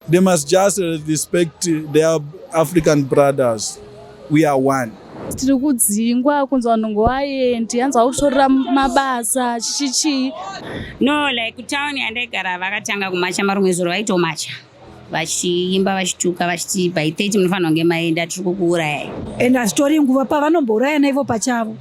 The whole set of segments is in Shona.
They must just respect their African brothers. We are one. tiri kudzingwa kunzi vanhu ngovaendi hanzi vakutorera mabasa chichi chii no like town yandaigara vakatanga kumacha marumwe zuro vaitomacha vachiimba vachituka vachiti by 30 munofanira kunge maenda tiri kukuurayai and hazvitori nguva pavanombourayana ivo pachavo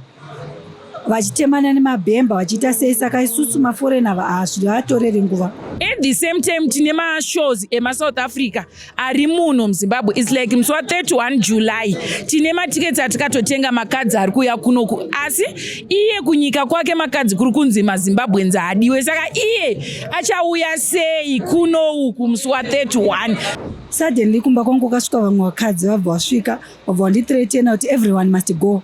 vachitemana nemabhemba vachiita sei saka isusu maforeign ava hazvivatorere nguva at the same time tine mashows emasouth africa ari muno muzimbabwe its like musi wa 31 july tine matiketsi atikatotenga makadzi ari kuuya kunoku asi iye kunyika kwake makadzi kuri kunzi mazimbabwenzi haadiwe saka iye achauya sei kunouku musi wa 31 suddenly kumba kwangu kasvika vamwe vakadzi vabva vasvika vabva vanditretena kuti everyone must go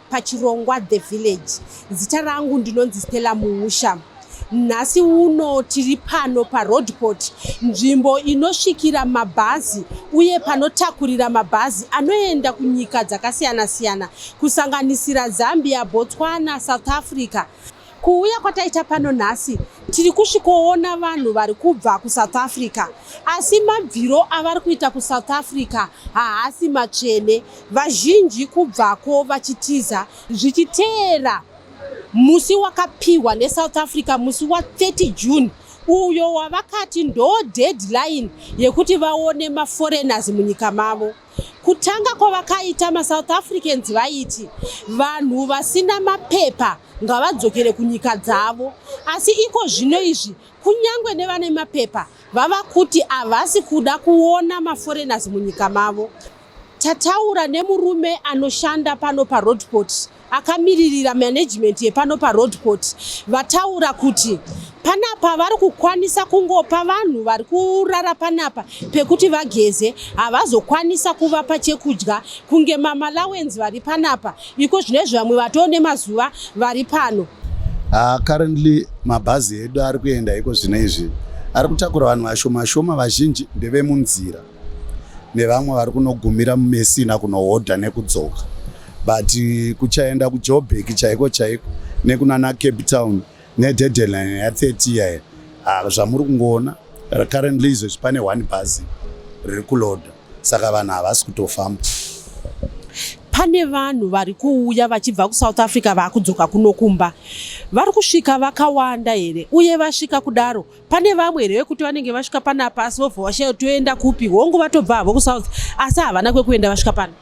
pachirongwa The Village. Zita rangu ndinonzi Stella Muusha. Nhasi uno tiri pano paRoadport, nzvimbo inosvikira mabhazi uye panotakurira mabhazi anoenda kunyika dzakasiyana-siyana kusanganisira Zambia, Botswana, South Africa. Kuuya kwataita pano nhasi tiri kusvikoona vanhu vari kubva kusouth africa asi mabviro avari kuita kusouth africa haasi matsvene vazhinji kubvako vachitiza zvichiteera musi wakapiwa nesouth africa musi wa 30 june uyo wavakati ndo deadline yekuti vaone maforeigners munyika mavo Kutanga kwavakaita maSouth Africans vaiti vanhu vasina mapepa ngavadzokere kunyika dzavo, asi iko zvino izvi kunyange nevane mapepa vava kuti havasi kuda kuona maforeigners munyika mavo. Tataura nemurume anoshanda pano paRoadport Akamiririra management yepano paroad court vataura kuti panapa vari kukwanisa kungopa vanhu vari kurara panapa pekuti vageze havazokwanisa kuvapa chekudya kunge mamalawenz vari panapa iko zvinezvi vamwe vatoo nemazuva vari pano uh, currently mabhazi edu ari kuenda iko zvino izvi ari kutakura vanhu vashoma shoma vazhinji ndevemunzira nevamwe vari kunogumira mumesina kunohodha nekudzoka but eh, kuchaenda kujobek chaiko chaiko nekunana cape town nededeline ya30 yaye ah, zvamuri kungoona currently izvezvi pane one bhazi riri kuloda saka vanhu havasi kutofamba pane vanhu vari kuuya vachibva kusouth africa vakudzoka kunokumba vari kusvika vakawanda here uye vasvika kudaro pane vamwe here vekuti vanenge vasvika panapa asi vobva vashaya toenda kupi hongu vatobva havo kusouth asi havana kwekuenda vasvika pano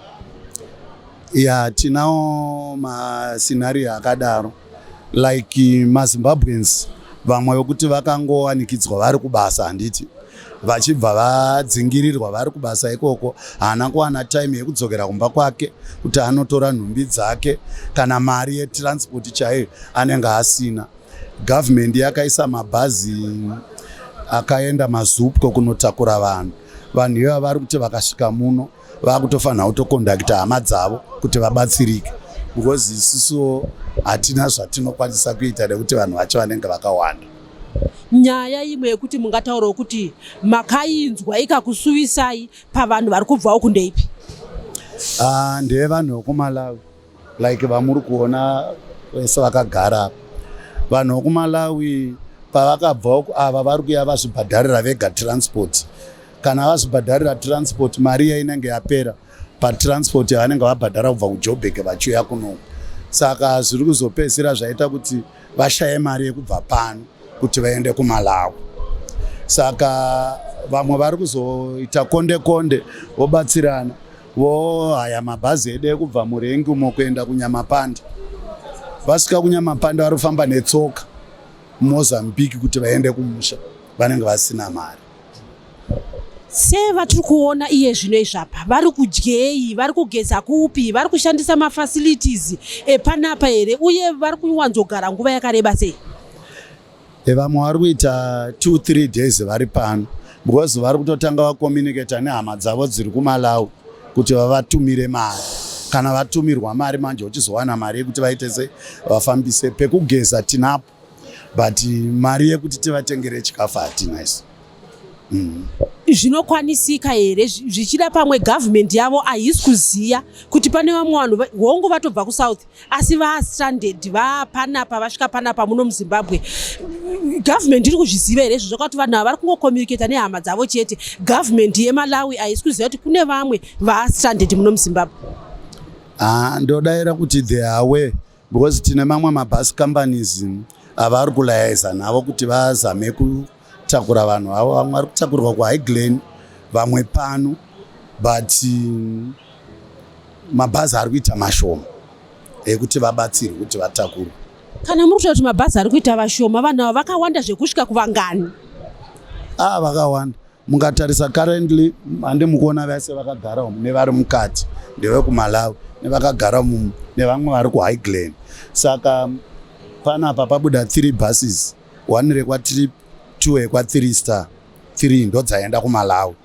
ya tinawo mascenario akadaro like mazimbabweans vamwe vekuti vakangowanikidzwa vari kubasa handiti vachibva vadzingirirwa vari kubasa ikoko haana kuwana time yekudzokera kumba kwake kuti anotora nhumbi dzake kana mari yetransport chaiyo anenge asina Government yakaisa mabhazi akaenda mazupco kunotakura vanhu vanhu ivava vari kuti vakasvika muno vakutofanira kutokondakita hama dzavo kuti vabatsirike because isusuwo hatina zvatinokwanisa kuita nekuti vanhu vacho vanenge vakawanda nyaya imwe yekuti mungataurawo kuti makainzwa ikakusuvisai pavanhu vari kubvawo kundeipi ah, ndeyevanhu vekumalawi Like vamuri kuona vese vakagara vanhu vokumalawi pavakabva uku ava vari kuya vazvibhadharira vega transport kana vazvibhadharira transport mari iya inenge yapera patransport yavanenge vabhadhara kubva kujobheke vachiuya kunoku saka zviri kuzopedzisira zvaita kuti vashaye mari yekubva pano kuti vaende kumalawi saka vamwe vari kuzoita konde konde vobatsirana Voo haya mabhazi edu ekubva murengi umo kuenda kunyamapanda vasvika kunyamapanda vari kufamba netsoka mumozambique kuti vaende kumusha vanenge vasina mari sevatiri kuona iye zvino izvapa vari kudyei vari kugeza kupi vari kushandisa mafacilities epanapa here uye vari kuwanzogara nguva yakareba sei Eh, vamwe vari kuita two three days vari pano because vari kutotanga vacommunicata nehama dzavo dziri kumalawi kuti vavatumire mari kana vatumirwa mari manje uchizowana mari yekuti vaite se vafambise pekugeza tinapo but mari yekuti tivatengere chikafu hatina isu zvinokwanisika here zvichida pamwe government yavo haisi kuziva kuti pane vamwe vanhu hongu vatobva kusouth asi vastranded vapanapa vasvika panapa muno muzimbabwe government iri kuzviziva here izvo zvokuti vanhu ava vari kungocommunicata nehama dzavo chete government yemalawi haisi kuziva kuti kune vamwe vastranded muno muzimbabwe ah, ndodaira kuti the away because tine mamwe mabus companies avari kulayaiza navo kuti vazame kutakura vanhu avo vamwe vari kutakurwa kuhigh glen vamwe pano but mm, mabhazi ari kuita mashoma ekuti vabatsirwe kuti vatakurwe kana muri kutaura kuti mabhazi ari kuita vashoma vanhu ava vakawanda zvekusvika kuvangani a ah, vakawanda Mungatarisa currently hande mukuona vese vakagara umu nevari mukati ndevekumalawi nevakagara mumu nevamwe vari kuhigh glen saka panapa pabuda three buses one rekwatrip two yekwa3 star three ndodzaenda kumalawi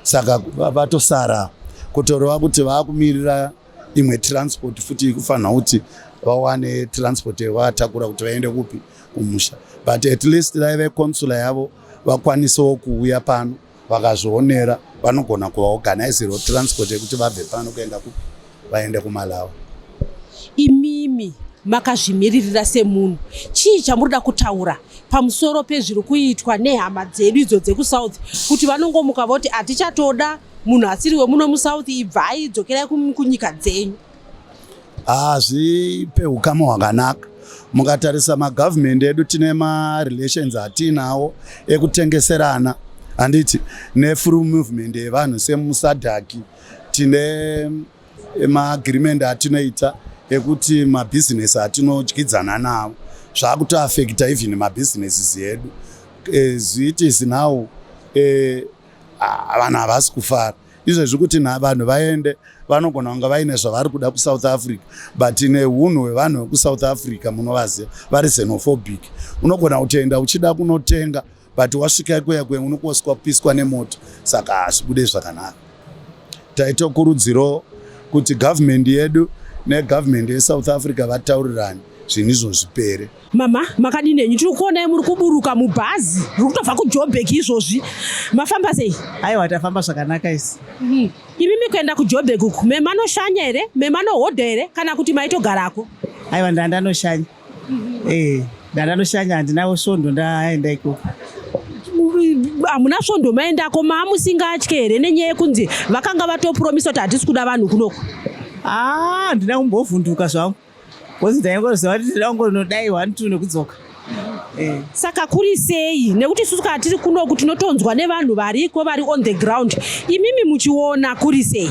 saka vatosara kutoreva kuti vaakumirira imwe transport futi ikufanira kuti vawane transport yavatakura kuti vaende kupi kumusha but at least dai veconsula yavo vakwanisewo kuuya pano vakazvionera vanogona kuvaorganizirwa transport yekuti vabve pano kuenda kupi vaende kumalawi imimi makazvimiririra semunhu chii chamuri da kutaura pamusoro pezviri kuitwa nehama dzedu idzo dzekusouth kuti vanongomuka voti hatichatoda munhu asiri wemuno musouth ibvai dzokerai kunyika dzenyu hazvipe ukama hwakanaka mukatarisa magovernment edu tine marelations atiinawo ekutengeserana handiti nefree movement yevanhu semusadhaki tine eh, maagreement atinoita ekuti mabhizinesi atinodyidzana nawo zvakutoafekta even mabhizinesis edu eh, zviitisi now eh, vanhu havasi kufara izvezvi kuti vanhu vaende vanogona kunge vaine zvavari kuda kusouth africa but neunhu hwevanhu vekusouth africa munovaziva vari xenophobic unogona kutoenda uchida kunotenga but wasvika ikuya kuya unokoswa kupiswa nemoto saka hazvibude zvakanaka taitokurudziro kuti government yedu negovernment yesouth africa vataurirani zvinhu izvo zvipere Mama makadini henyu tiri kuonai muri kuburuka mubhazi riri kutobva kujoburg izvozvi mafamba sei aiwa tafamba zvakanaka isi mm. imi mikuenda kujoburg uku memanoshanya here memanohodha here kana kuti maitogarako aiwa ndandanoshanya mm -hmm. e, eh, ndandanoshanya handinawo svondo ndaenda ikoko hamuna svondo maendako maamusingatye here nenyaya yekunzi vakanga vatopromisa kuti hatisi kuda vanhu kunoko haa ah, handina kumbovhunduka zvangu Kozi ndaingoziva kuti tinoda kungonodai one two nekudzoka. Eh. saka kuri sei nekuti isusu kana tiri kunoku tinotonzwa nevanhu variko vari on the ground imimi muchiona kuri sei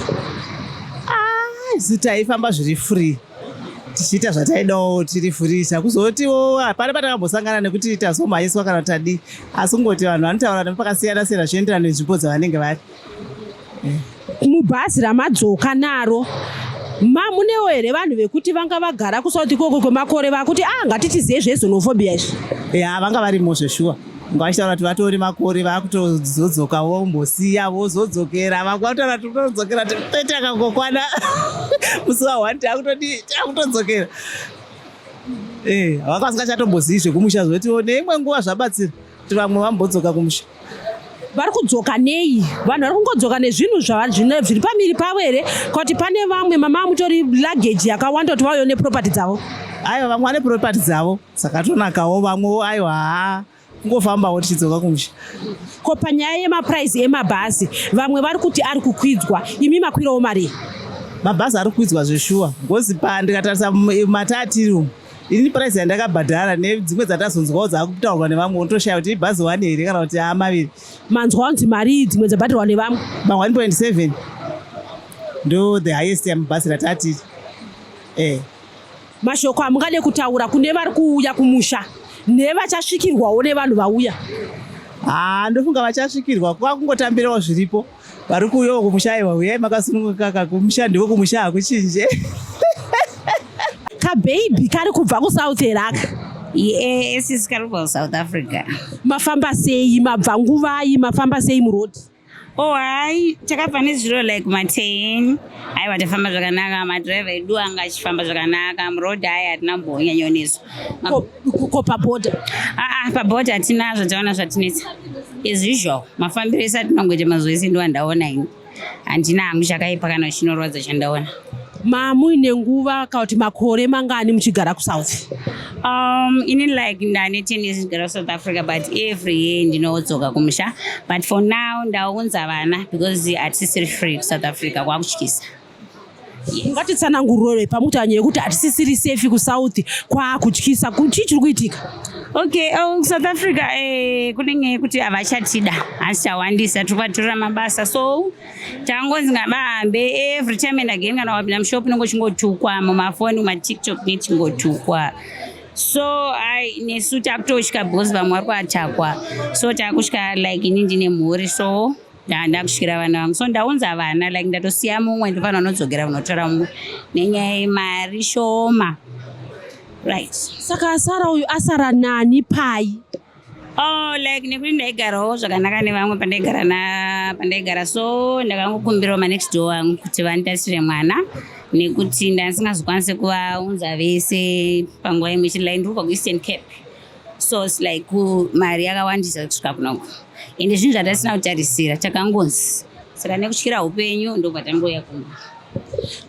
ah, isu taifamba zviri free tichiita zvataidawo tiri free chakuzotiwo hapana patakambosangana nekuti tazomhanyiswa kana tadi asi kungoti vanhu vanotaura nepakasiyana siyana zvienderana nenzvimbo dzavanenge vari mubhazi ramadzoka naro ma munewo here vanhu vekuti vanga vagara kusouth ikoko kwemakore vakuti a ah, ngatitizei zvezonophobia izvi ya vanga varimo zveshuwa ngavachitaura kuti vatori makore vakutozodzoka vombosiya vozodzokera vakutaura kuti todzokera tete akangokwana musi wa one takutodii takutodzokera eh, vakasingachatombozii zvekumusha zvoti neimwe nguva zvabatsira Vamwe vambodzoka kumusha vari kudzoka nei vanhu vari kungodzoka nezvinhu zviri pamiri pavo here kuti pane vamwe mama mutori luggage yakawanda kuti vauyo neproperty dzavo aiwa vamwe vane property dzavo dzakatonakawo vamwewo aiwa haa kungofambawo tichidzoka kumusha ko panyaya yemapuraizi emabhazi vamwe vari kuti ari kukwidzwa imi makwirawo marii mabhazi ari kuidzwa zveshuwa ngozi pa ndikatarisa matatiru ini price yandakabhadhara nedzimwe dzatazonzwawo dzakutaurwa nevamwe unotoshaya kuti ibhazi one here kana kuti aa maviri manzwa kuti mari dzimwe dzabhadharwa nevamwe ma 1.7 ndo the highest yamubhasi ratati eh mashoko amungade kutaura kune vari kuuya kumusha nevachasvikirwawo nevanhu vauya haa ndofunga vachasvikirwa kwakungotambirawo zviripo Vari kuuyawo kumusha aiwa huyai makasunungukaka kumusha ndiwo kumusha hakuchinje. Kababy kari kubva kusouth heraka. Yes, it's kari kubva kusouth Africa. Mafamba sei, mabva nguvai, mafamba sei muroad? Oh, hai, takabva nezuro like ma 10. aiwa tafamba zvakanaka madriver edu anga achifamba zvakanaka muroad ayi hatina kumbonyanyonetsa ko paboda aa ah, paboda ah, hatina zvataona zvatinetsa as usual mafambiro ese atinongoita mazuva ese ndo andaona ini handina hangu chakaipa kana chinorwadza chandaona mamuine nguva kana kuti makore mangani muchigara kusouth Um, ini like ndane ten years ndikugara south africa but every year ndinodzoka kumusha but for now ndaunza vana because hatisisiri free kusouth africa kwakutyisa ungatitsanangurore pamutanya yekuti hatisisiri safe kusouth kwakutyisa chii chiri kuitika okay oh, kusouth africa eh, kunenge kuti havachatida hasichawandisa tiri kwatirira mabasa so tangonzi ngavahambe every time and again kana wapinda mushop unenge uchingotukwa mumafoni mumatiktok nechingotukwa so i nesu takutosvika because vamwe vari kuatakwa so takusvika like ini ndine mhuri so ndakusvikira vana vangu so ndaunza vana like ndatosiya mumwe ndofana unodzokera kunotora mumwe nenyaya yemari shoma right saka asara uyu asara nani pai Oh, like nekuti ndaigarawo zvakanaka nevamwe pandaigara na pandaigara so ndakangokumbirawo manext door angu kuti vanditarisire mwana nekuti ndandisingazokwanise kuvaunza vese panguva imwe chete like ndiri kubva kueastern cape so its like mari yakawandisa kusvika kunoko ende zvinhu zvatasina kutarisira takangonzi saka nekutyira upenyu ndokubva tangouya kuno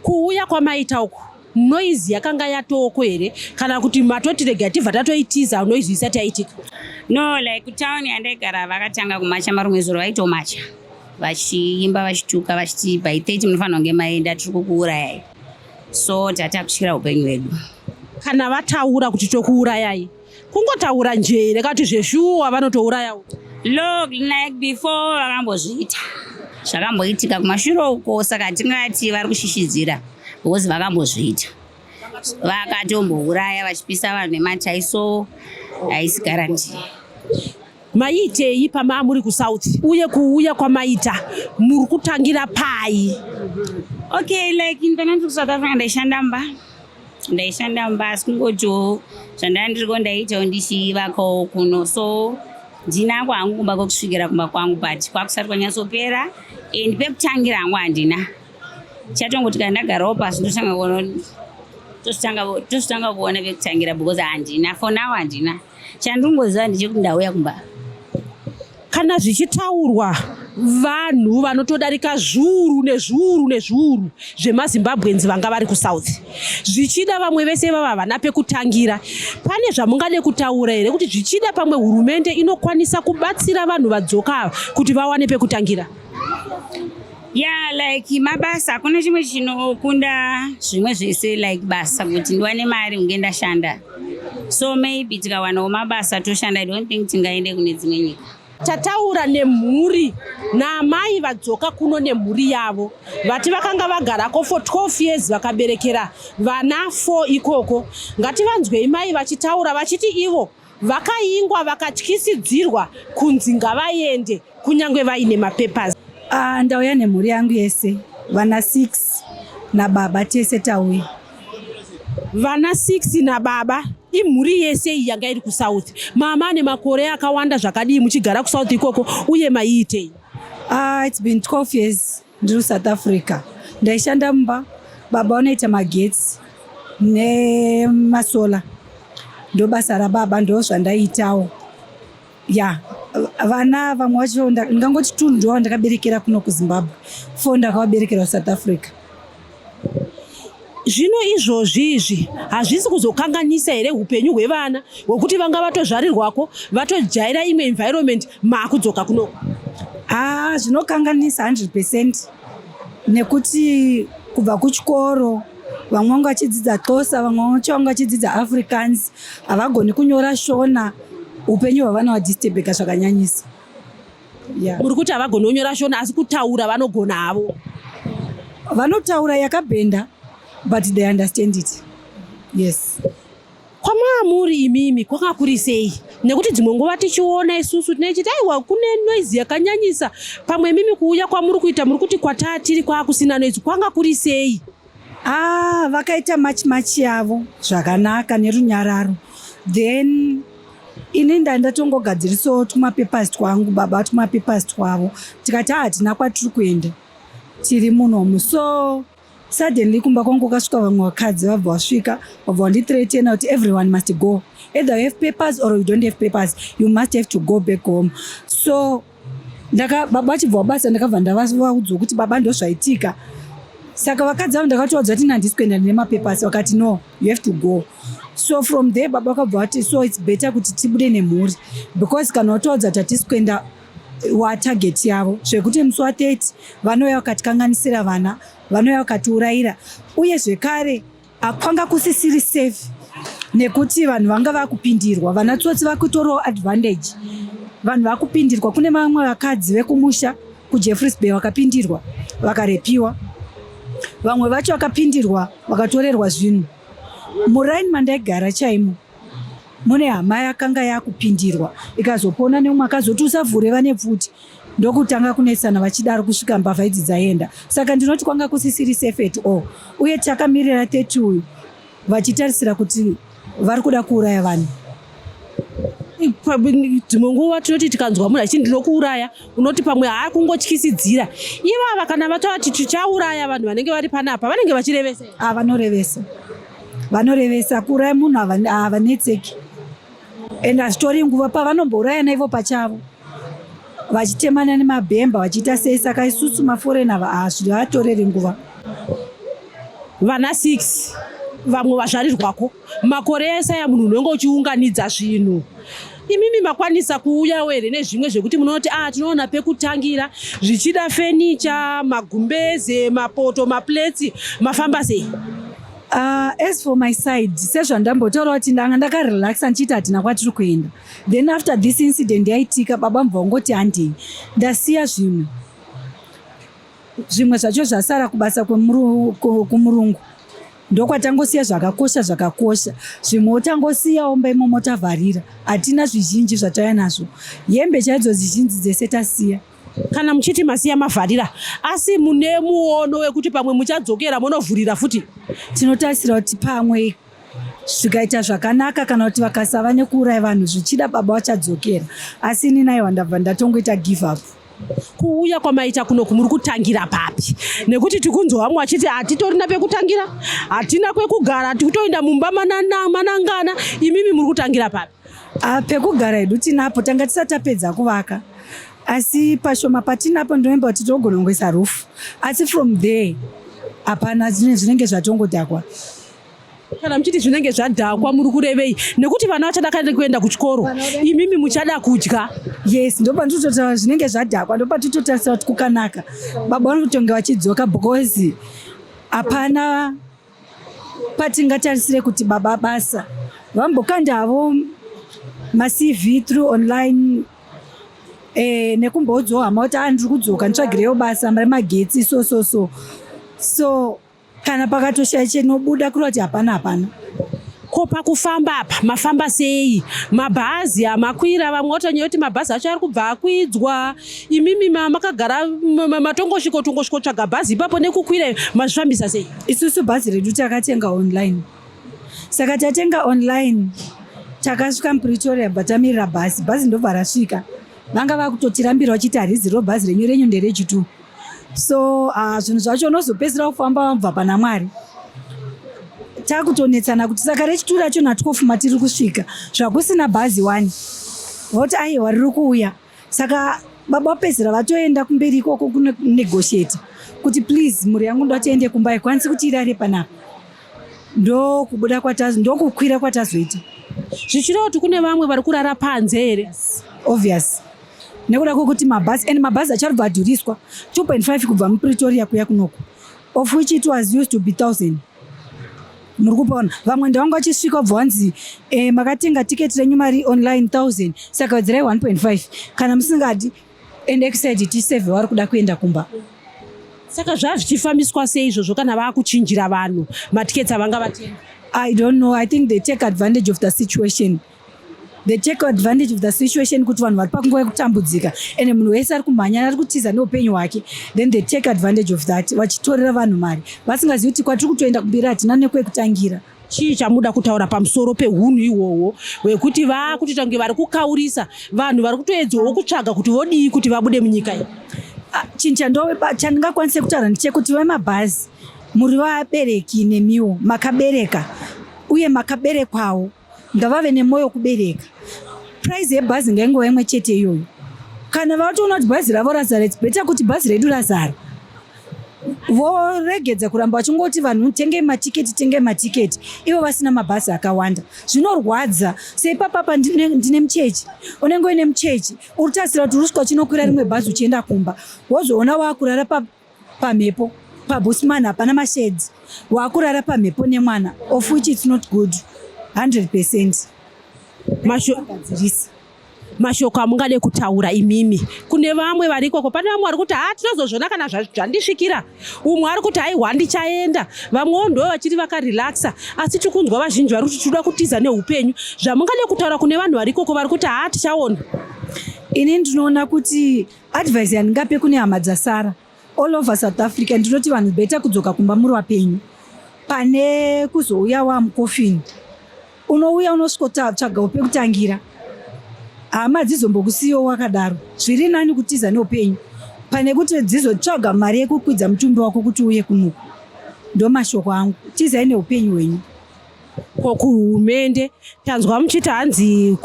kuuya kwamaita uku noise yakanga yatooko here kana kuti matoti rega tibva tatoitiza noise isati yaitika no like town yandaigara vakatanga kumacha marumwe zuro vaitomacha vachiimba vachituka vachiti by 30 munofanira kunge maenda tiri kukuurayai so tatakutyira upenyu hwedu kana vataura kuti tokuurayai kungotaura njee here kati zveshuwa vanotouraya log like before vakambozviita zvakamboitika kumashure uko saka tingati vari kushishidzira because vakambozviita vakatombouraya vachipisa vanhu nematai so haisi garanti maiitei pamaa muri kusouth uye kuuya kwamaita muri kutangira pai okay like intaneti kusouth africa ndaishanda mba ndaishanda mumba asi kungotiwo zvandanga ndiriko ndaiitawo ndichivakawo kuno so ndinako hangu kumba kwekusvikira kumba kwangu but kwakusati kwanyatsopera and pekutangira hangu handina chatongoti kana ndagarawo pasi ndotanga kuona tositanga kuona vekutangira because handina for now handina Chandingoziva ndechekuti ndauya kumba. Kana zvichitaurwa vanhu vanotodarika zviuru nezviuru nezviuru zvemazimbabweans vanga vari kusouth zvichida vamwe vese vava havana pekutangira pane zvamungade kutaura here kuti zvichida pamwe hurumende inokwanisa kubatsira vanhu vadzoka ava kuti vawane pekutangira Yeah, like mabasa hakuna chimwe chinokunda zvimwe zvese like basa kuti ndiwane mari unge ndashanda so maybe tikawanawo mabasa toshanda i don't think tingaende kune dzimwe nyika tataura nemhuri naamai vadzoka kuno nemhuri yavo vati vakanga vagarako for 12 years vakaberekera vana 4 ikoko ngativanzwei mai vachitaura vachiti ivo Vakayingwa vakatyisidzirwa kunzi ngavayende kunyange vaine mapapers. Ah, ndauya nemhuri yangu yese vana 6 nababa tese tauya. Vana 6 nababa imhuri yese iyi yanga iri kusouth. Mama ane makore akawanda zvakadii muchigara kusouth ikoko uye maiitei? Ah, it's been 12 years. Ndiri South Africa. Ndaishanda mumba baba vanoita magetsi nemasola ndobasa rababa ndo zvandaitawo ya vana vamwe vacho ndingangoti two ndo ndakaberekera kuno kuzimbabwe fo ndakavaberekera kusouth africa zvino izvozvi izvi hazvisi kuzokanganisa here upenyu hwevana hwekuti vanga vatozvarirwako vatojaira imwe environment maakudzoka kuno haa zvinokanganisa 100 percent nekuti kubva kuchikoro vamwe vanga vachidzidza xosa vamwe vacho vanga vachidzidza africans havagoni kunyora shona upenyu hwavana vadisturbeka zvakanyanyisa yeah. uri kuti havagoni kunyora shona asi kutaura vanogona havo vanotaura yakabhenda but they understand it yes kwamaamuri imimi kwanga kuri sei nekuti dzimwe nguva tichiona isusu tinechiti aiwa kune noizi yakanyanyisa pamwe imimi kuuya kwamuri kuita muri kuti kwataa tiri kwaakusina noizi kwanga kuri sei Ah, vakaita machi machi yavo zvakanaka nerunyararo then ini ndandatongogadzirisawo tumapapers twangu baba tumapapers twavo tikati ah, hatina kwatiri kuenda tiri munomu so suddenly kumba kwangu kasvika vamwe vakadzi vabva vasvika vabva vanditretena kuti everyone must go either you have papers or you don't have papers you must have to go back home so ndaka baba vachibva wabasa ndakabva ndavaudzwa kuti baba ndozvaitika saka vakadzi vavo ndakatovaudza kuti nandisi kuenda nemapepers vakati no you have to go so from there baba vakabva vati so its better kuti tibude nemhuri because kana watovaudza kuti hatisi kuenda watarget yavo zvekuti musi wa 30 vanouya vakatikanganisira vana vanouya vakatiurayira uye zvekare Akwanga kusisiri safe nekuti vanhu vanga vakupindirwa vana tsotsi vakutorawo advantage vanhu vakupindirwa kune vamwe vakadzi vekumusha kujeffreys bay vakapindirwa vakarepiwa vamwe vacho vakapindirwa vakatorerwa zvinhu muraini mandaigara chaimo mune hama yakanga yakupindirwa ikazopona neumwe akazoti usavhure vane pfuti ndokutanga kunetsana vachidaro kusvika mbavha idzi dzaenda saka ndinoti kwanga kusisiri safe at all uye takamirira 30 uyu vachitarisira kuti vari kuda kuuraya vanhu dzimwe nguva tinoti tikanzwa munhu achiti ndinokuuraya unoti pamwe haa kungotyisidzira ivava kana vatovati tichauraya vanhu vanenge vari panapa vanenge vachirevesa a vanorevesa vanorevesa kuuraya munhu havanetseki and hazvitori nguva pavanombourayana ivo pachavo vachitemana nemabhemba vachiita sei saka isusu maforena hazvivatoreri nguva vana six vamwe vazvarirwako makore ese aya munhu unenge uchiunganidza zvinhu Imimi makwanisa kuuyawo here nezvimwe zvekuti munoti a ah, tinoona pekutangira zvichida fenicha, magumbeze, mapoto, mapleti, mafamba sei? Uh, as for my side sezvandambotaura kuti ndanga ndakarelaxa ndichiita hatina kwatiri kuenda then after this incident yaitika baba mva ungoti handei ndasiya zvimwe zvimwe zvacho zvasara kubasa kumurungu ndokwatangosiya zvakakosha zvakakosha zvimwe otangosiya omba imomo tavharira hatina zvizhinji zvatauya nazvo hembe chaidzo zizhinji dzese tasiya kana muchiti masiya mavharira asi mune muono wekuti pamwe muchadzokera monovhurira futi tinotarisira kuti pamwe zvikaita zvakanaka kana kuti vakasava nekuuraya vanhu zvichida baba vachadzokera asi ini naiwa ndabva ndatongoita give up kuuya kwamaita kuno kumuri kutangira papi nekuti tikunzwa vamwe vachiti hatitorina pekutangira hatina kwekugara tikutoenda mumba manangana imimi muri kutangira papi ah, pekugara hedu tinapo tanga tisati tapedza kuvaka asi pashoma patinapo ndinomba kuti togona kungoisa rufu asi from there hapana zvinenge zvatongodhakwa kana muchiti zvinenge zvadhakwa muri kurevei nekuti vana vachadakara nekuenda kuchikoro imimi muchada kudya yes ndopanditotaura zvinenge zvadhakwa ndopatitotarisa kuti kukanaka baba vanotonge vachidzoka because hapana patingatarisire kuti baba basa vambokanda havo macv through online eh, nekumbodzohama kuti andiri ah, kudzoka nditsvagireyo basa remagetsi so so so so kana pakatoshaya chinobuda kureva kuti hapana hapana ko pakufamba apa mafamba sei mabhazi amakwira vamwe watonyaya kuti mabhazi acho ari kubva akwidzwa imimi makagara matongoshiko tongoshiko tsvaga bhazi ipapo nekukwira mazvifambisa sei isusu bhazi redu takatenga online saka tatenga online takasvika mupretoria batamirira bhazi bhazi ndobva rasvika vanga vakutotirambira vachiti harizi ro bhazi renyu renyu nderechitu so uh, zvinhu zvacho unozopedzisira kufamba wabva pana mwari takutonetsana kuti saka rechitu racho natwofu matiri kusvika zvakusina bhazi wani voti aiwa riri kuuya saka baba vapedzisira vatoenda kumberi ikoko kunegotiata kuti please mhuri yangu ndatiende kumba ikwanisi kuti irare panapa ndokubuda kwatazi ndokukwira kwatazoita zvichireva kuti kune vamwe vari kurara panze here obvious nekuda kwekuti mabhazi and mabhazi acharibva adhuriswa 2.5 kubva mupretoria kuya kunoko of which it was used to be 1000 muri kupona vamwe ndavanga vachisvika wabva wanzi eh, makatenga tiketi renyu mari online 1000 saka wedzirai 1.5 kana musingadi and exide tiseve wari kuda kuenda kumba saka zvava zvichifambiswa sei izvozvo kana vakuchinjira vanhu matiketi avanga vatenga i don't know i think they take advantage of the situation they take advantage of the situation kuti vanhu vari pakunguva yekutambudzika and munhu wese ari kumhanya ari kutiza neupenyu hwake then they take advantage of that vachitorera vanhu mari vasingazivi kuti kwatiri kutoenda kumberi hatina nekwekutangira chii chamuda kutaura pamusoro pehunhu ihwohwo hwekuti vaakuti tange vari kukaurisa vanhu vari kutoedzawo kutsvaga kuti vodii kuti vabude munyika iyi ah, chinhu chandingakwanise kutaura ndichekuti vemabhazi muri vabereki nemiwo makabereka uye makaberekwawo ngavave nemwoyo kubereka price yebhazi ngaingova imwe chete iyoyo kana vatoona kuti bhazi ravo razara its better kuti bhazi redu razara voregedza kuramba vachingoti vanhu tengei matiketi tengei matiketi ivo vasina mabhazi akawanda zvinorwadza seipapapa ndine muchechi unenge uine muchechi uritasira kuti uruswa chinokwira rimwe bhazi uchienda kumba wozoona waakurara pa pamhepo pabusman hapana masheds waakurara pamhepo nemwana of which its not good 100 percent mashogadzirisa mashoko amungade kutaura imimi kune vamwe vari ikoko pane vamwe vari kuti haa tinozozvona kana zvandisvikira umwe ari kuti haihwa ndichaenda vamwewo ndo vachiri vakarelaxa asi tiri kunzwa vazhinji vari kuti tinoda kutiza neupenyu zvamungade kutaura kune vanhu vari ikoko vari kuti haa tichaona ini ndinoona kuti Advice yandingape kune hama dzasara all over South Africa ndinoti vanhu beta kudzoka kumba muri wapenyu pane kuzouya wamucoffin unouya unosvikotsvaga upe kutangira hama dzizombokusiyiwo wakadaro zviri nani kutiza neupenyu pane kuti dzizotsvaga mari yekukwidza mutumbi wako kuti uye kunoku ndomashoko angu tizai neupenyu hwenyu ko kuhurumende tanzwa muchiti hanzi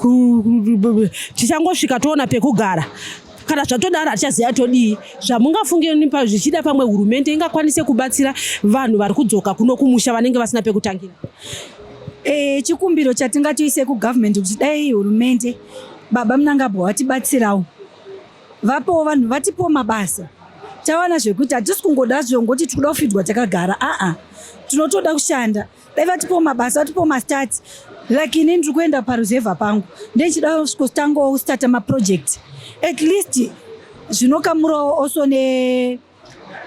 tichangosvika toona pekugara kana zvatodaro hatichaziva todii zvamungafunge nipa zvichida pamwe hurumende ingakwanise kubatsira vanhu vari kudzoka kuno kumusha vanenge vasina pekutangira e, chikumbiro chatingatoise kugovernment kuti dai hurumende baba munangabwa watibatsirawo vapowo vanhu vatipowo mabasa tawana zvekuti hatisi kungoda zvongoti tikuda kufidwa takagara aa tinotoda kushanda dai vatipowo mabasa vatipowo mastats like ini ndiri kuenda paruzevha pangu ndechida kutangawo kustata maproject at least zvinokamurawo also ne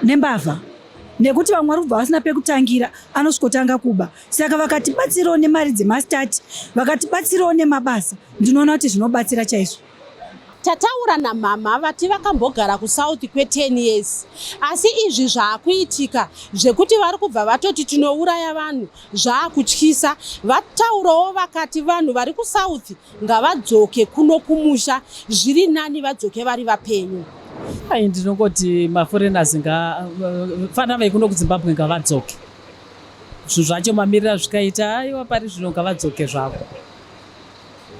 nembavha nekuti vamwe vari kubva vasina pekutangira anosvikotanga kuba saka vakatibatsirawo nemari dzemastati vakatibatsirawo nemabasa ndinoona kuti zvinobatsira chaizvo tataura namhamha vati vakambogara kusouth kwe10 years asi izvi zvaakuitika zvekuti vari kubva vatoti tinouraya vanhu zvaakutyisa vataurawo vakati vanhu vari kusouth Ngavadzoke kuno kumusha zviri nani vadzoke vari vapenyu. Ai ndinongoti maforeigners nga fana vekuno kuZimbabwe ngavadzoke. Zvinhu zvacho mamirira zvikaita aiwa pari zvino ngavadzoke zvavo.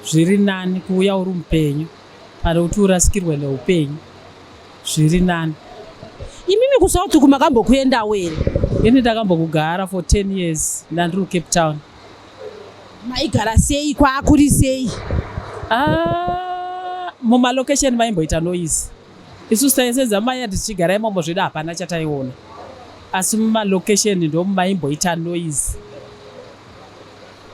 Zviri nani kuuya uri mupenyu pane kuti urasikirwe neupenyu. Zviri nani. Imimi kuSouth kumakambokuendawo here? Ini ndakambokugara for 10 years ndandiri kuCape Town. maigara sei kwaakuri sei ah, mumalocation maimboita noise isu saise dzamai ati tichigara imomo zvedu hapana chataiona asi mumalocation ndomumaimboita noise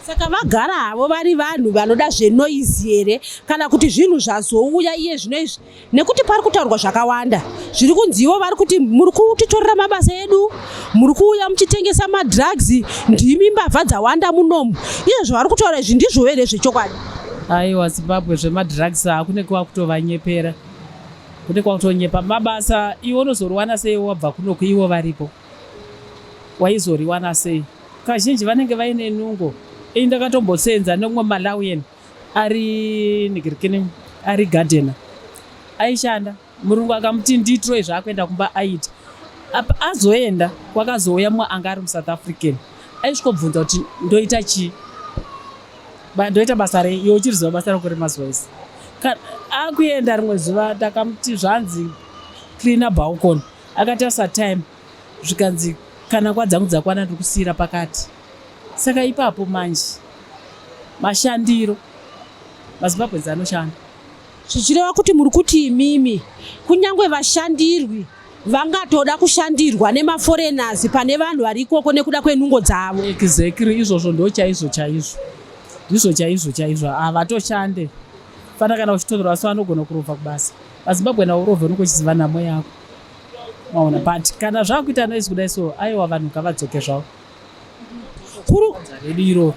saka vagara havo vari vanhu vanoda zvenoise here kana kuti zvinhu zvazouya iye zvino izvi nekuti pari kutaurwa zvakawanda zviri kunzi ivo vari kuti muri kutitorera mabasa edu muri kuuya muchitengesa madrugs ndimi mbavha dzawanda munomu iye zvavari kutaura izvi ndizvo here zvechokwadi aiwa zimbabwe zvemadrugs hakune kuva kutovanyepera kune kwakutonyepa mabasa iwe unozoriwana sei wabva kunoku ivo varipo waizoriwana sei kazhinji vanenge vaine nungo ini ndakatombosenza neumwe malawian ari nigirikini ari gadhena aishanda murungu akamuti nditroy zvaakuenda kumba aita apa azoenda kwakazouya mumwe anga ari musouth african aisvikobvunza kuti ndoita chii ndoita basa rei iwe uchiri ziva basa rako remazuva ese akuenda rimwe zuva ndakamuti zvanzi cleana balcon akatarisa time zvikanzi kana kwa dzangu dzakwana ndiri kusiyira pakati Saka ipapo manje mashandiro mazimbabwenzi anoshanda zvichireva kuti muri kuti imimi kunyange vashandirwi vangatoda kushandirwa nemaforeigners pane vanhu vari ikoko nekuda kwenungo dzavo exactly izvozvo ndo chaizvo chaizvo ndizvo chaizvo chaizvo havatoshande fana kana uchitorwa so anogona kurova kubasa vazimbabwe navo urove unenge uchiziva nhamo yako maona but kana zvakuita noise kudai so aiwa vanhu ngavadzoke zvavo kuri redu iroro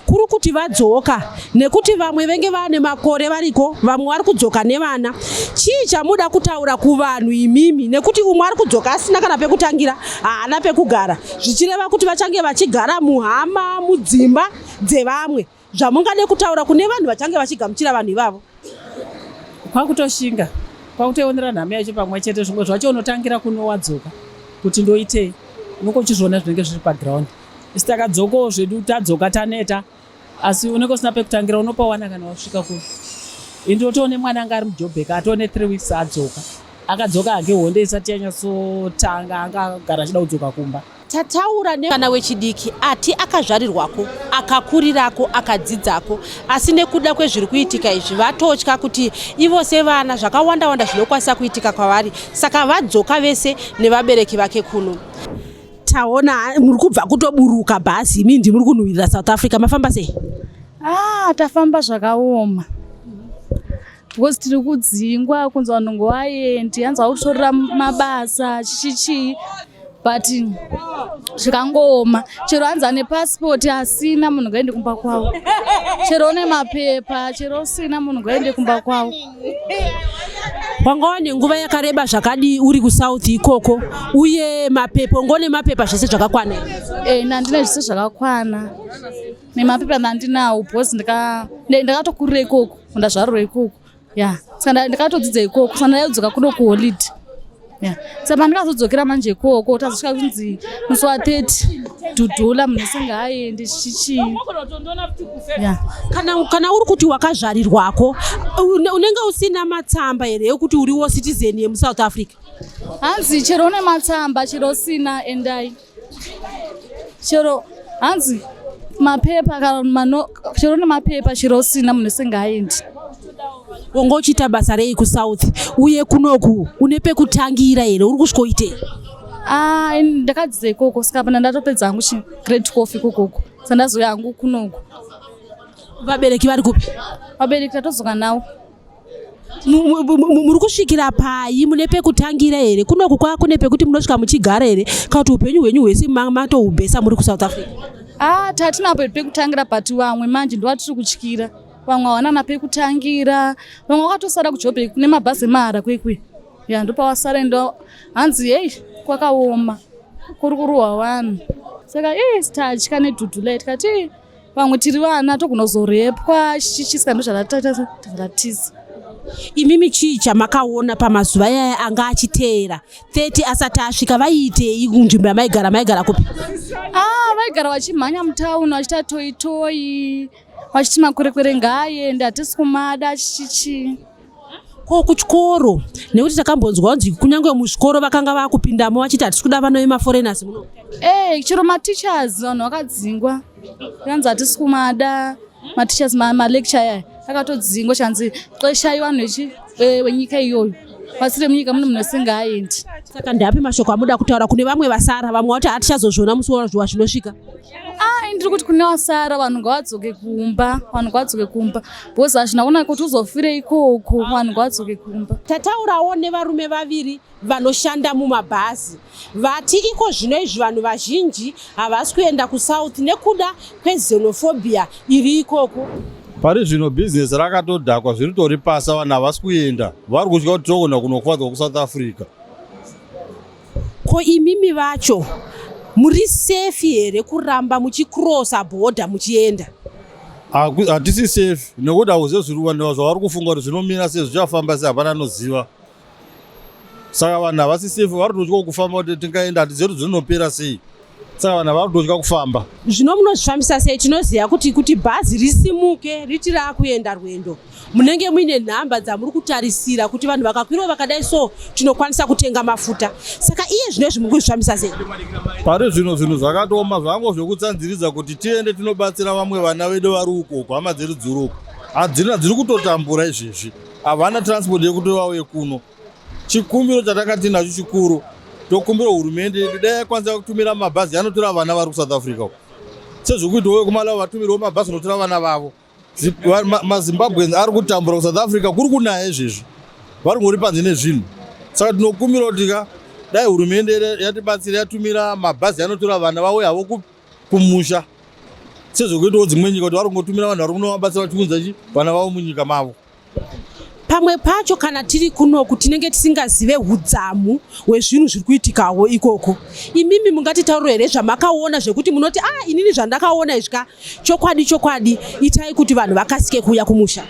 kuri kuti vadzoka nekuti vamwe venge vane makore variko vamwe vari kudzoka nevana chii chamuda kutaura kuvanhu imimi nekuti umwe ari kudzoka asina kana pekutangira haana pekugara zvichireva kuti vachange vachigara muhama mudzimba dzevamwe zvamungade kutaura kune vanhu vachange vachigamuchira vanhu ivavo kwakutoshinga kwakutoionera nhamo yacho pamwe chete zvimwe zvacho unotangira kunowadzoka kuti ndoitei unenge uchizviona zvinenge zviri paground isi takadzokawo zvedu tadzoka taneta asi unenge usina pekutangira unopawana kana wasvika ku indi otoone mwana anga ari mujobheka atoone three weeks adzoka akadzoka hake honde isati yanyatsotanga anga agara achida kudzoka kumba tataura nevana wechidiki ati akazvarirwako akakurirako akadzidzako asi nekuda kwezviri kuitika izvi vatotya kuti ivo sevana zvakawanda wanda zvinokwanisa kuitika kwavari saka vadzoka vese nevabereki vake kuno taona muri kubva kutoburuka bhazi imi ndimuri kunhuwirira south africa mafamba sei ah tafamba zvakaoma because tiri kudzingwa kunzi vanhu ngovaendi hanzi vakutorora mabasa chii chii but zvikangooma chero hanzi ane pasipoti asina munhu ngaende kumba kwavo chero une mapepa chero usina munhu ngaende kumba kwavo wanga wane nguva yakareba zvakadii uri kusouth ikoko uye mapepa ungone mapepa zvese zvakakwana e, eh, nandine zvese zvakakwana nemapepa andinawo because ndakatokurira ikoko ndazvarura ikoko ya saka ndakatodzidza ikoko saka ndaidzoka kuno kuholide ya saka pandikazodzokera manje ikoko tazosvika kunzi musi wa 30 dhudhula munhu asingaaendi chichii ya kana, kana uri kuti wakazvarirwako unenge usina matsamba here ekuti uriwo citizen yemusouth africa hanzi chero une matsamba chero usina endai chero hanzi mapepa kana mano chero nemapepa chero usina munhu singaendi wonga uchiita basa rei kusouth uye kunoku une pekutangira here uri kusvikoitei ah, ndakadzidza ikoko saka pana ndatopedza hangu chigreat cof ikokoko sandazouya hangu kunoku vabereki vari kupi vabereki tatodzoka nawo muri kusvikira payi mune pekutangira here kunoku kwava kune pekuti munosvika muchigara here kana kuti upenyu hwenyu hwese matohubhesa muri kusouth africa a ah, tatinapo pekutangira but vamwe manje ndovatiri kutyira vamwe havanana pekutangira vamwe vakatosara kujobe kune mabhazi emahara kwekwe ya ndopavasara ndo hanzi heyi kwakaoma kuri kurohwa vanhu saka ii tatya nedhudhu lai tikati vamwe tiri vana togona kuzorepwa chichiska ndozvaratatiza imimi chii chamakaona pamazuva yaya anga achiteera 30 asati asvika vaiitei kunzvimbo yamaigara maigara kupi ah, vaigara vachimhanya mutauni vachita toitoi vachiti makwerekwere ngaaende hatisi kumada chichichii ko kuchikoro nekuti takambonzwa kunzi kunyange muzvikoro vakanga vakupindamo vachiti hatisi kuda vana vemaforeigners muno ee eh, chero mateachers vanhu vakadzingwa kanzi hatisi kumada mateachers malecture aya akatodzingwa chanzi xeshai vanhu eh, wenyika iyoyo pasi remunyika mune munhu asingaendi saka ndiapi mashoko amuda kutaura kune vamwe vasara vamwe vati hatichazozviona musi wazuva zvinosvika ai ah, ndiri kuti kune vasara vanhu ngavadzoke kumba vanhu ngavadzoke kumba because hazvina kunaka kuti uzofire ikoko vanhu kwadzoke kumba tataurawo nevarume vaviri vanoshanda mumabhazi vati iko zvino izvi vanhu vazhinji havasi kuenda kusouth nekuda kwezenophobia iri ikoko pari zvino bhizinesi rakatodhakwa zviri tori pasa vanhu havasi kuenda vari kutya kuti togona kunokuvadzwa kusouth africa ko imimi vacho muri safe here kuramba muchikrosa bhodha muchienda hatisi safe nekuti hauzive zviri vanhu zvavari kufunga kuti zvinomira sei zvichafamba sei hapana anoziva saka vanhu havasi safe vari totya kufamba kuti tingaenda hatizive kuti zvinopera sei saka vanhu havadi kutotya kufamba zvino munozvifambisa sei tinoziva kuti kuti bhazi risimuke riti raakuenda rwendo munenge muine nhamba dzamuri kutarisira kuti vanhu vakakwirawo vakadai so tinokwanisa kutenga mafuta saka iye zvino izvi muri kuzvifambisa sei pari zvino zvinhu zvakatooma zvango zvekutsanziridza kuti tiende tinobatsira vamwe vana vedu vari uko uko hama dziri dziri uko hadzina dziri kutotambura izvezvi havana transport yekuti vauye kuno Chikumbiro chatanga tinacho chikuru tokumbira hurumende dai yakwanisa kutumira mabhazi anotora vana vari kuSouth Africa sezvekuitawo vekumalawi vatumirwo mabhazi anotora vana vavo mazimbabweans ari kutambura kusouth africa kuri kunaya izvezvi vari ngori panze nezvinhu saka tinokumbira kuti ka dai hurumende yatibatsira yatumira mabhazi anotora vana vauya havo kumusha sezvekuitawo dzimwe nyika kuti vari kungotumira vanhu vari kunovabatsira vachiunza chi vana vavo munyika mavo pamwe pacho kana tiri kunoku tinenge tisingazive udzamu hwezvinhu zviri kuitikawo ikoko imimi mungatitauriro here zvamakaona zvekuti munoti a ah, inini zvandakaona izvi ka chokwadi chokwadi itai kuti vanhu vakasike kuuya kumusha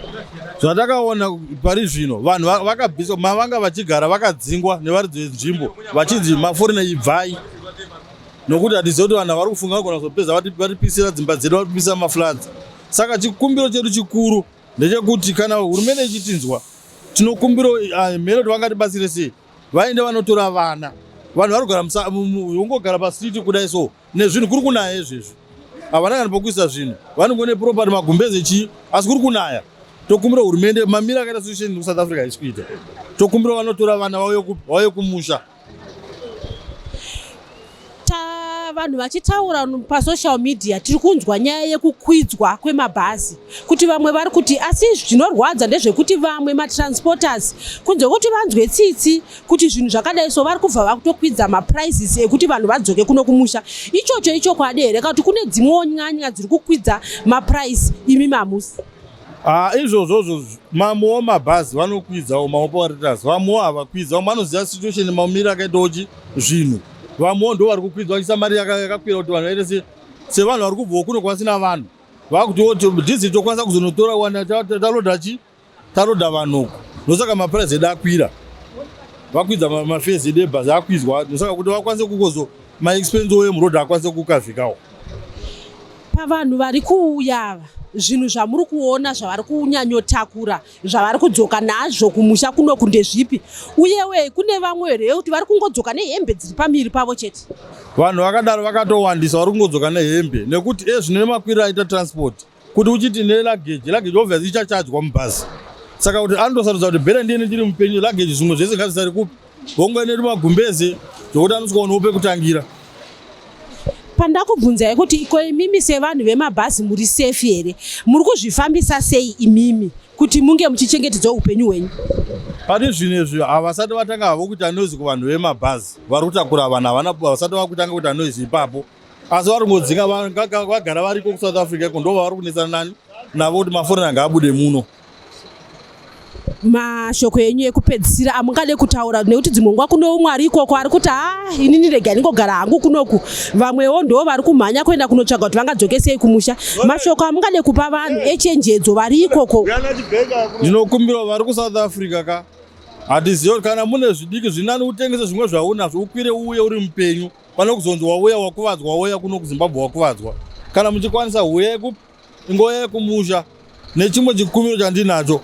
zvatakaona pari zvino vanhu vakabviswa mavanga vachigara vakadzingwa nevaridzi venzvimbo vachinzi maforina ibvai nokuti hatizive kuti vanhu vari kufunga vagona kuzopedza vatipisira dzimba dzedu vatipisa mafloods saka chikumbiro chedu chikuru ndechekuti kana hurumende ichitinzwa tinokumbira ah, mhero kuti vangatibatsire sei vaende vanotora vana vanhu vari kugara ungogara pastreet kudai so nezvinhu kuri kunaya izvezvi havana kana pokuisa zvinhu vanongone property magumbeze chii asi kuri kunaya tokumbira hurumende mamira akaita solution kusouth africa haisi kuita tokumbira vanotora vana vauye kumusha vanhu vachitaura pasocial media tiri kunzwa nyaya yekukwidzwa kwemabhazi kuti vamwe vari kuti asi zvinorwadza ndezvekuti vamwe matransporters kunze kuti vanzwe tsitsi kuti zvinhu zvakadai so vari kubva vakutokwidza maprices ekuti vanhu vadzoke kuno kumusha ichocho ichokwadi here ka kuti kune dzimwewo nyanya dziri kukwidza maprice imi mamusi Ah, izvozvozvo mamwe wamabhazi vanokwidzawo maoperators vamwewo havakwidzao vanoziva situation maumiri akaitawo chi zvinhu vamwewo ndo vari kukwidza vachiisa mari yakakwira kuti vanhu vaite se sevanhu vari kubvawo kuno kwasina vanhu vakuti dhiziri tokwanisa kuzonotora wana taloda chi taloda vanhuku ndosaka mapurazi edu akwira vakwidza mafezi edu ebhazi akwidzwa ndosaka kuti vakwanise kukozo maexpense oyo muroad akwanise kukazikawo Pavanhu vari kuuya ava zvinhu zvamuri kuona zvavari kunyanyotakura zvavari kudzoka nazvo kumusha kuno kunde zvipi uyewe kune vamwe here yekuti vari kungodzoka nehembe dziri pamiri pavo chete vanhu vakadaro vakatowandisa vari kungodzoka nehembe nekuti ezvino nemakwira aita transport kuti uchiti nelageji lageji obviously ichachajwa mubhazi saka kuti anotosarudza kuti bere ndiye ndiri mupenyu lageji zvimwe zvese ngazvisari kupi Honga ine magumbeze zvokuti anotswaonawo pekutangira. Pandakubvunzai kuti iko imimi sevanhu vemabhazi muri safe here? Muri kuzvifambisa sei imimi kuti munge muchichengetedza upenyu hwenyu? Pari zvino izvi havasati vatanga havo kuita noise kuvanhu vemabhazi vari kutakura vanhu havana vasati vakutanga kuita noise ipapo asi vari kungodzinga vagara variko kusouth africa iko ndo vavari kunetsana nani navo kuti maforeign anga abude muno mashoko enyu ekupedzisira amungade kutaura nekuti dzimwe nguva kune umwe ari ikoko ari kuti ha ah, inini rega ndingogara hangu kunoku vamwewo ndoo vari kumhanya kuenda kunotsvaga kuti vangadzoke sei kumusha mashoko amungade kupa vanhu echenjedzo vari ikoko ndinokumbirawo vari kusouth africa ka hatizivi kana mune zvidiki zvinani utengese zvimwe zvaunazvo ukwire uuye uri mupenyu pane kuzonzi wauya wakuvadzwa wauya kuno kuzimbabwe wakuvadzwa kana muchikwanisa huyai Nguva yekumusha nechimwe chikumbiro chandinacho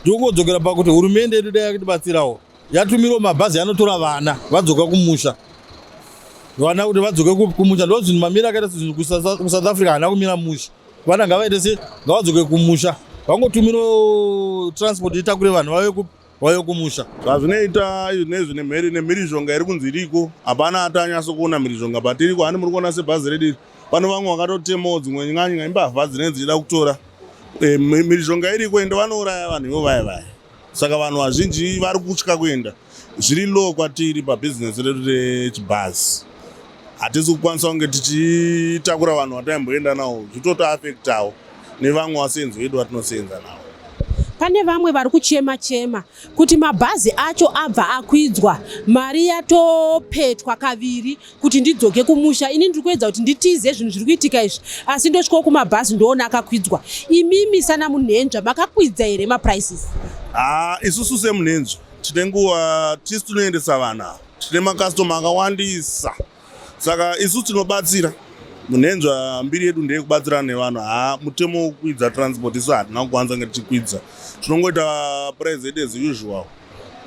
ndikungodzokera pakuti hurumende yedu dai yakitibatsirawo yatumirwa mabhazi anotora vana vadzoka kumusha vana kuti vadzoke kupi kumusha ndo zvinhu mamira akaita sezvinhu kusouth africa haana kumira musha vana ngavaite se ngavadzoke kumusha vangotumirwa transport itakure vanhu vave kupi wayo kumusha zvazvinoita izvi nezvi nemheri nemhirizhonga iri kunzi iriko hapana ati anyasa kuona mhirizhonga but iriko hani muri kuona sebhazi redu iri pano vamwe vakatotemawo dzimwe nyanya imbavha dzinenge dzichida kutora eh, mhirizhonga iriko ende vanouraya vanhu ivo vaya vaya saka vanhu vazhinji vari kutya kuenda zviri low kwatiri pabhizinesi redu rechibhazi hatisi kukwanisa kunge tichitakura vanhu vataimboenda nawo zvitotoafektawo nevamwe vasinzwidi vatinoseenza navo pane vamwe vari kuchema chema kuti mabhazi acho abva akwidzwa mari yatopetwa kaviri kuti ndidzoke kumusha ini ndiri kuedza kuti nditize zvinhu zviri kuitika izvi asi ndosvikawo kumabhazi ndoona akakwidzwa imimi sana munhenzva makakwidza here maprices haa isusu semunhenzva tine nguva tisu tinoendesa vana tine makastoma akawandisa saka isu tinobatsira munhenzva mbiri yedu ndeye kubatsirana nevanhu ha mutemo wokukwidza transport isu hatina kukwanisa kunge tichikwidza tinongoita price yedu as usual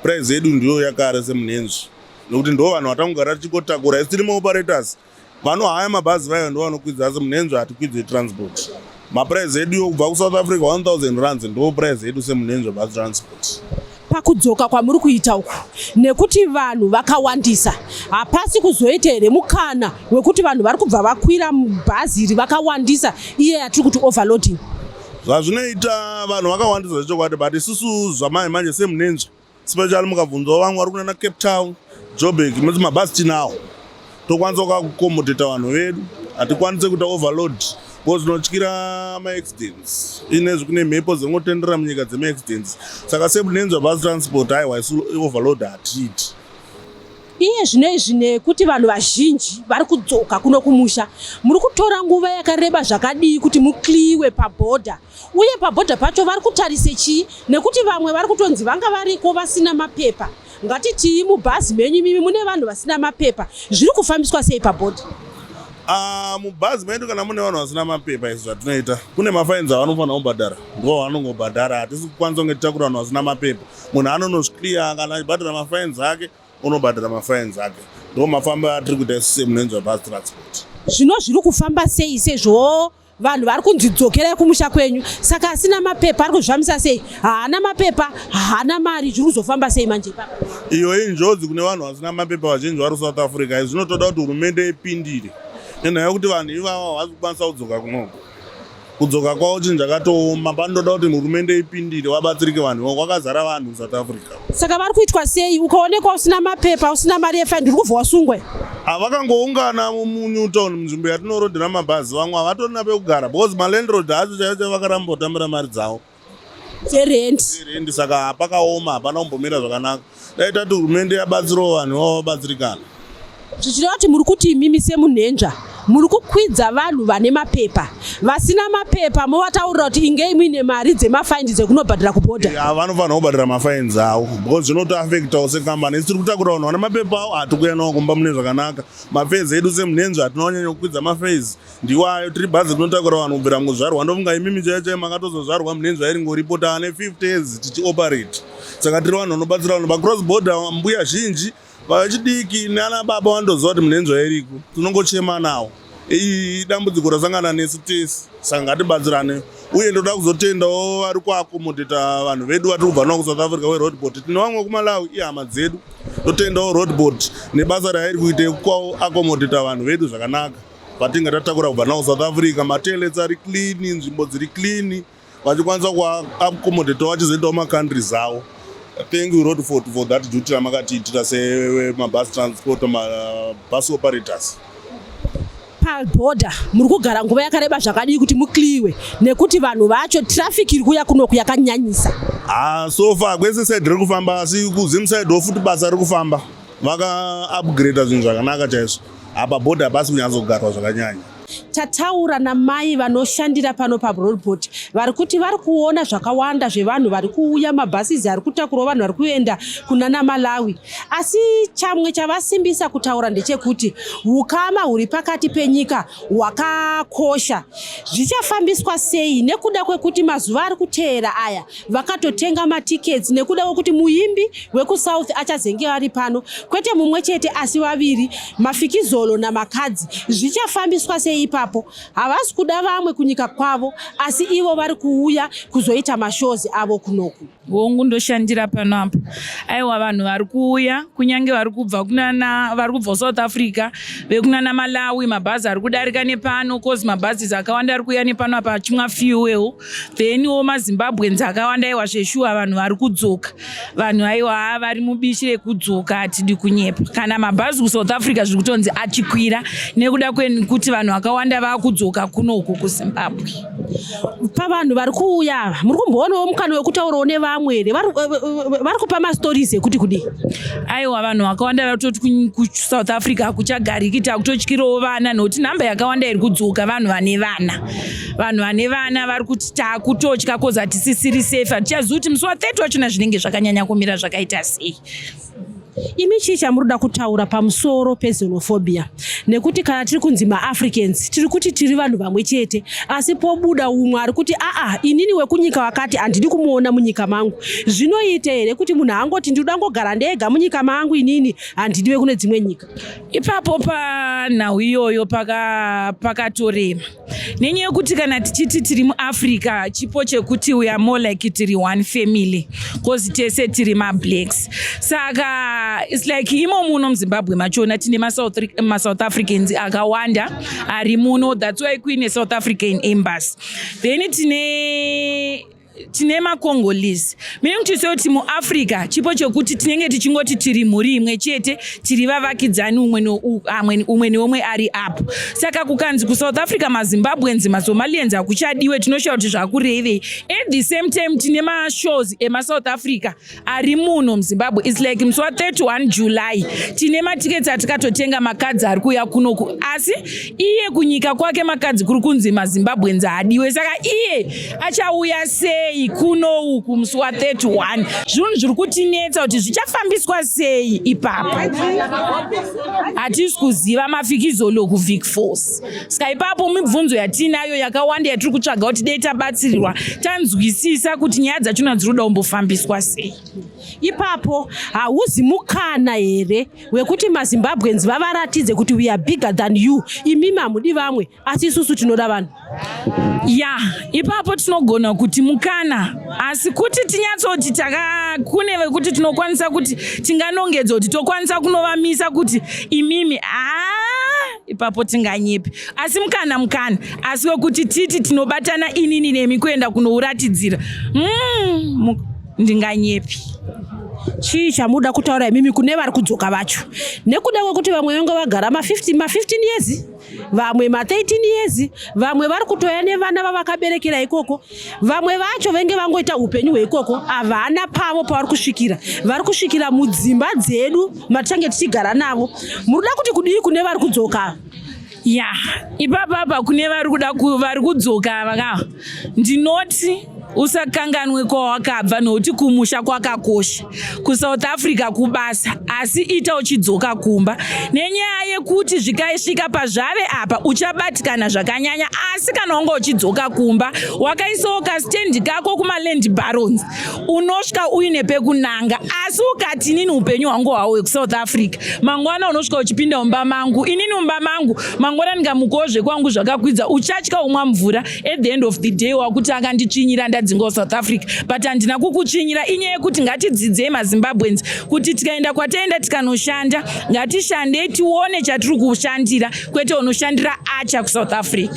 price yedu ndiyo yakare semunhenzvi nekuti ndo vanhu vatangogara tichikotakura isi tiri maoperators vanohaya mabhazi vayo ndo vanokwidza asi munhenzvi hatikwidze transport maprice edu yokubva kusouth africa 1000 rands ndo price edu semunenzva bus transport pakudzoka kwamuri kuita uku nekuti vanhu vakawandisa hapasi kuzoita here mukana wekuti vanhu vari kubva vakwira bhazi iri vakawandisa iye yatiri kuti overloading zvazvinoita vanhu vakawandisa zvechokwadi but isusu zvamai manje semunenzva special mukabvunzawo vamwe vari kunana cape town jobek moti mabhasi tinawo tokwanisa kukakukomodheta vanhu vedu hatikwanise kuita overload bcause tinotyira maaccidents inezvi kune mhepo dzingotendera munyika dzemaaccidents saka sebunenzwa bus transport haiwa isu overload hatiiti iye zvino izvi nekuti vanhu vazhinji vari kudzoka kuno kumusha muri kutora nguva yakareba zvakadii kuti mukliwe pabhodha uye pabhodha pacho vari kutarise chii nekuti vamwe vari kutonzi vanga variko vasina mapepa ngatitii mubhazi menyu imimi mune vanhu vasina mapepa zviri kufambiswa sei pabhodha ah, mubhazi medu kana mune vanhu vasina mapepa izvi zvatinoita kune mafainzi avanofanira kubhadhara ndo vanongobhadhara hatisi kukwanisa kunge titakura vanhu vasina mapepa munhu anonozvikliya kana achibhadhara mafainzi ake unobhadhara mafainzi ake ndo mafambo atiri kuita isu semunenzwa bhazi transport zvino zviri kufamba sei sezvo vanhu vari kunzi dzokerai kumusha kwenyu saka asina mapepa ari kuzvamisa sei haana mapepa haana mari zviri kuzofamba sei manje ipapa iyo injodzi kune vanhu vasina mapepa vazhinji vari south africa izvi zvinotoda kuti hurumende ipindire nenhaya yekuti vanhu ivavo havasi kukwanisa kudzoka kunoko kudzoka kwavo chinhu chakatooma panotoda kuti hurumende ipindire vabatsirike vanhu ivavo kwakazara vanhu south africa saka vari kuitwa sei ukaonekwa usina mapepa usina mari yefaini uri kubva wasungwe ah, vakangoungana munew town munzvimbo yatinorodhera mabhazi vamwe havatorina pekugara because malandrod acho chaiyo chai vakaramba kutambira mari dzavo dzerendi saka hapakaoma hapana kumbomira zvakanaka dai tati hurumende yabatsirawo vanhu vavo vabatsirikana zvichireva kuti muri kuti imimi semunhenzva muri kukwidza vanhu vane mapepa vasina mapepa movataurira kuti ingei muine mari dzemafaini dzekunobhadhira kubhodha eh, ah, vanofanira kubhadhira mafaini avo because zvinotoafektawo sekambani isi tiri kutakura vanhu vane mapepa avo hatikuya nawo kumba mune zvakanaka mafezi edu semunhenzva hatinonyanya kukwidza mafezi ndiwo ayo tiri bhazi tinotakura vanhu kubvira mukuzvarwa ndofunga imimi chaiyo chaiyo makatozozvarwa munhenzva iri ngoripo taane 50 years tichioperate saka tiri vanhu vanobatsira vanhu pacross border mbuya zhinji Vechidiki nana baba vandoziva kuti munenzwa iriko, tinongochema nawo. Iyi dambudziko rasangana nesu tese, saka ngatibatsirane. Uye ndoda kuzotendawo vari kuakomodheta vanhu vedu vatiri kubva navo kuSouth Africa weRoadboard. Tine vamwe kuMalawi ihama dzedu, totendawo Roadboard nebasa rairi kuita yekuakomodheta vanhu vedu zvakanaka vatinge tatakura kubva navo kuSouth Africa. Matoilets ari clean, nzvimbo dziri clean. vachikwanisa kuaccommodatawo vachizoendawo macountries avo thank you road fort for that duty ramakatiitira semabus transport mabus operators paborder muri kugara nguva yakareba zvakadii kuti mukliwe nekuti vanhu vacho traffic iri kuya kunoku yakanyanyisa ha ah, so far kwese side riri kufamba asi kuzim side wo futi basa riri kufamba vaka upgrade zvinhu zvakanaka chaizvo apa board hapasi kunyatsogarwa zvakanyanya tataura namai vanoshandira pano pabroadbot vari kuti vari kuona zvakawanda zvevanhu vari kuuya mabhasizi ari kutakurwa vanhu vari kuenda kunana malawi asi chamwe chavasimbisa kutaura ndechekuti ukama huri pakati penyika hwakakosha zvichafambiswa sei nekuda kwekuti mazuva ari kuteera aya vakatotenga matickets nekuda kwekuti muimbi wekusouth achazenge vari pano kwete mumwe chete asi vaviri mafikizolo namakadzi zvichafambiswa sei ipapo havasi kuda vamwe kunyika kwavo asi ivo vari kuuya kuzoita mashozi avo kunoku hongu ndoshandira pano apa aiwa vanhu vari kuuya kunyange vari kubva kunana vari kubva south africa vekunana malawi mabhazi ari kudarika nepano cause mabhazis akawanda ari kuuya nepano apa achimwa fuel then wo mazimbabweans akawanda aiwa zveshuwa vanhu vari kudzoka vanhu aiwa haa vari mubishi rekudzoka hatidi kunyepa kana mabhazi kusouth africa zviri kutonzi achikwira nekuda kwekuti vanhu vakawanda vakudzoka kuno uku kuzimbabwe pavanhu vari kuuya ava muri kumboonawo mukana wekutaurawo nevamwe here vari kupa mastories ekuti kudii aiwa vanhu vakawanda vari kutoti kusouth africa hakuchagariki takutotyirawo vana nokuti nhamba yakawanda iri kudzoka vanhu vane vana vanhu vane vana vari kuti takutotya koz hatisisiri safe hatichazivi kuti musi wa 30 wachona zvinenge zvakanyanya kumira zvakaita sei imi chii chamuri kuda kutaura pamusoro pezenophobia nekuti kana tiri kunzi maafricans tiri kuti tiri vanhu vamwe chete asi pobuda umwe ari kuti aa inini wekunyika wakati handidi kumuona munyika mangu zvinoita here kuti munhu angoti ndinoda ngogara ndega munyika mangu inini handidi vekune dzimwe nyika ipapo panhau iyoyo pakatorema paka nenyaya yokuti kana tichiti tiri muafrica chipo chekuti we are more like tiri one family bcause tese tiri mablacks saka its like imo muno muzimbabwe machona tine masouth africans akawanda ari muno thats why kuine south african embassy then tine tine macongolese meaning to say kuti muafrica chipo chokuti tinenge tichingoti tiri mhuri imwe chete tiri vavakidzani umwe neumwe ari apo saka kukanzi kusouth africa mazimbabweans masomalians hakuchadiwe tinoshaya kuti zvakurevei at the same time tine mashows emasouth africa ari muno muzimbabwe its like musi wa 31 july tine matiketi atikatotenga makadzi ari kuuya kunoku asi iye kunyika kwake makadzi kuri kunzi mazimbabwenzi haadiwe saka iye achauya sei kuno uku musi wa 31 zvinhu zviri kutinetsa kuti zvichafambiswa sei ipapa hatisi kuziva mafikizolo kuvik force saka ipapo mibvunzo yatiinayo yakawanda yatiri kutsvaga kuti dei tabatsirirwa tanzwisisa kuti nyaya dzachona dziri kuda kumbofambiswa sei ipapo hauzi mukana here wekuti mazimbabwens vavaratidze kuti we are bigger than you imimi hamudi vamwe asi isusu tinoda vanhu ya ipapo tinogona kuti mukana asi kuti tinyatsoti takakune vekuti tinokwanisa kuti tinganongedza kuti tokwanisa kunovamisa kuti imimi aa ah, ipapo tinganyepi asi mukana mukana asi wekuti titi tinobatana inini nemi kuenda kunouratidzira mm, ndinganyepi chii chamuda kutaura imimi kune vari kudzoka vacho nekuda kwekuti vamwe vanga vagara ma15 ma15 years vamwe ma13 years vamwe vari kutoya nevana vavakaberekera ikoko vamwe vacho venge vangoita upenyu hweikoko havana pavo pavari kusvikira vari kusvikira mudzimba dzedu matichange tichigara navo muri kuda kuti kudii kune vari kudzoka ya ipapapa kune vari kuda vari kudzoka vaka ndinoti usakanganwe kwawakabva nokuti kumusha kwakakosha kusouth africa kubasa asi ita uchidzoka kumba nenyaya yekuti zvikaisvika pazvave apa uchabatikana zvakanyanya asi kana wanga uchidzoka kumba wakaisawo kastendi kako kumaland barons unosvika uine pekunanga asi ukati inini upenyu hwangu hwawo wekusouth africa mangwana unosvika uchipinda mumba mangu inini mumba mangu mangwana ndingamukowo zvekwangu zvakakwidza uchatya umwa mvura at the end of the day wakuti akanditsvinyira ndadzingawo south africa but handina kukutsvinyira inyaya yekuti ngatidzidzei mazimbabweans kuti tikaenda kwataenda tikanoshanda ngatishandei tione chatiri kushandira kwete unoshandira acha kusouth africa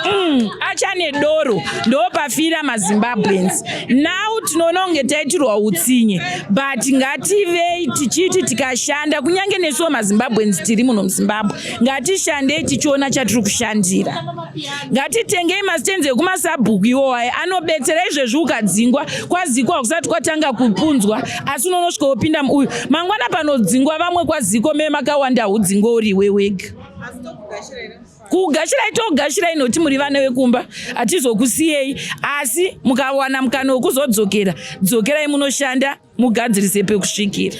mm, acha nedoro ndopafira mazimbabweans now tinoona kunge taitirwa utsinye but ngativei tichiti tikashanda kunyange nesuwo mazimbabweans tiri muno muzimbabwe ngatishandei tichiona chatiri kushandira ngatitengei masitenzi ekumasabhuku iwo aye anobetsera izvezvi ukadzingwa kwazikwa kusati kwatanga kupunzwa asi unonosvika wopinda muuyu mangwana panodzingwa vamwe kwaziko me makawanda hudzingwa uri iwe wega kugashirai togashirai noti muri vana vekumba hatizokusiyei asi mukawana mukana wekuzodzokera dzokerai munoshanda mugadzirise pekusvikira.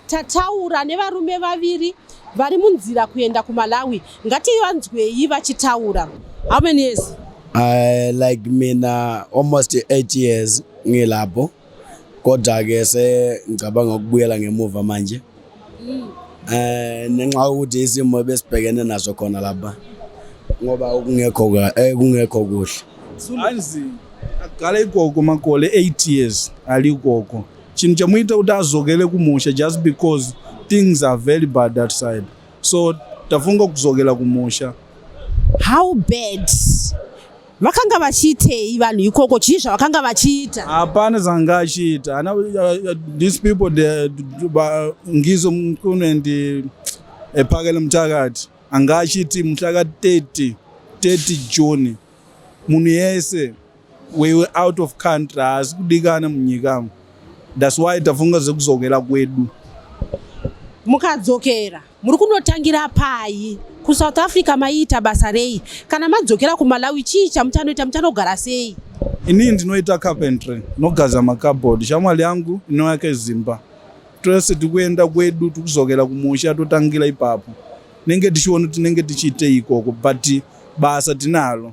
Tataura nevarume vaviri vari munzira kuenda kuMalawi. Ngativanzwei vachitaura. How many years? I like mina almost 8 years ngilapho. Kodwa ke se ngicabanga ukubuyela ngemuva manje. mm. eh nenxa ukuthi isimo besibhekene naso khona lapha ngoba kungekho eh kungekho kuhle anzi agale ikoko makole 8 years ali ikoko chinhu chamuita kuti azokele kumusha just because things are very bad that side so tafunga kuzokela kumusha how bad vakanga vachiitei vanhu ikoko chii zvavakanga vachiita hapana zvanga achiita ana uh, these people ngizo mkunu and epakele eh, mutakati anga achiti muhlaka 30 30 june munhu yese we were out of country haasi kudikana munyikamo thats why tafunga zvekuzokera kwedu mukadzokera Muri kunotangira pai? KuSouth Africa maiita basa rei? Kana madzokera kuMalawi chii chamuchanoita? Muchanogara sei? Ini ndinoita carpentry, nogaza makabhodhi. Shamwari yangu inoyake zimba. Tose tikuenda kwedu tikuzokera kumusha totangira ipapo. Nenge tichiona tinenge tichiite ikoko but basa tinalo.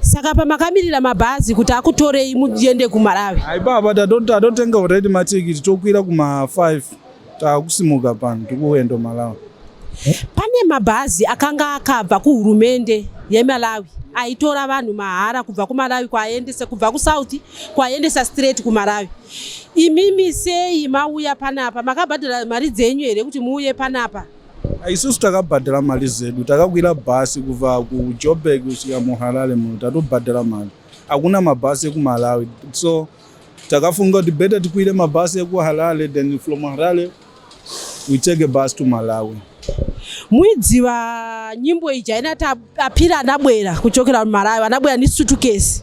Saka pamakamirira mabhazi kuti akutorei muende kuMalawi? Hai baba tatotenga already matikiti tokwira kuma 5 takusimuka pano tikuenda Malawi. Pane mabhazi akanga akabva kuhurumende yeMalawi aitora vanhu mahara kubva kuMalawi kwaendesa kubva kuSouth kwaendesa straight kuMalawi. Imimi sei mauya panapa makabhadhara mari dzenyu here kuti muuye panapa? isusu takabhadhara mari zedu takakwira bhasi kubva kujoburg kusvika muharare muno tatobhadhara mari hakuna mabhasi ekumalawi so takafunga kuti better tikwire mabhasi ekuharare then from harare we take a bus to malawi muidziva nyimbo iji haina tapira anabwera kuchokera mumalawi anabwera nisutukesi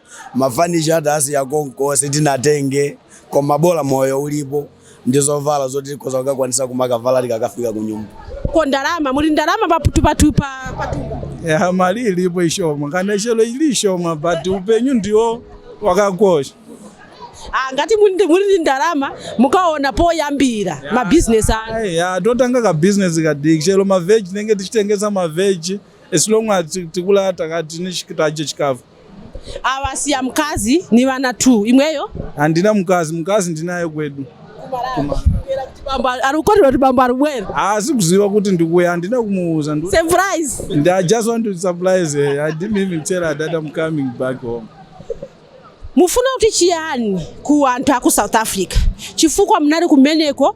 mafanisha atasi yakonko sitinatenge koma bola moyo ulipo ndizovala zoti koza kukakwanisa kumakavala tikakafika kunyumba ko ndarama muli ndarama paputupatupa ya mali ilipo ishoma kana chelo ili ishoma but upenyu ndiwo wakakosha Ah, ngati muri ndi ndarama mukaona poyambira mabhizinesi ano ya totanga kabhizinesi kadiki chero maveji tinenge tichitengesa maveji as long as tikula takati tichikafu Ava siya mukadzi nevana two imweyo. Handina mukadzi, mukadzi ndinaye kwedu. Ari kukorera kuti bambo ari kubwera. Haasi kuziva kuti ndikuuya, handina kumuudza. Surprise. I just want to surprise her. I didn't even tell her that I'm coming back home. Mufuna kuti chiyani kuwantu aku South Africa. Chifukwa munari kumeneko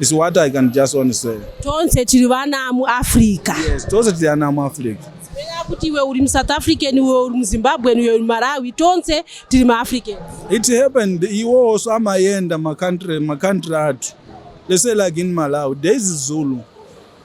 It's what I can just want to say. Tonse tiri vana mu Africa. Yes, tonse tiri vana mu Africa. Sipenya kuti iwe uri mu South African, iwe uri mu Zimbabwean, iwe uri Malawi, tonse tiri ma African. It happened iwe also amayenda ma country ma country atu. Let's say like in Malawi, there is Zulu.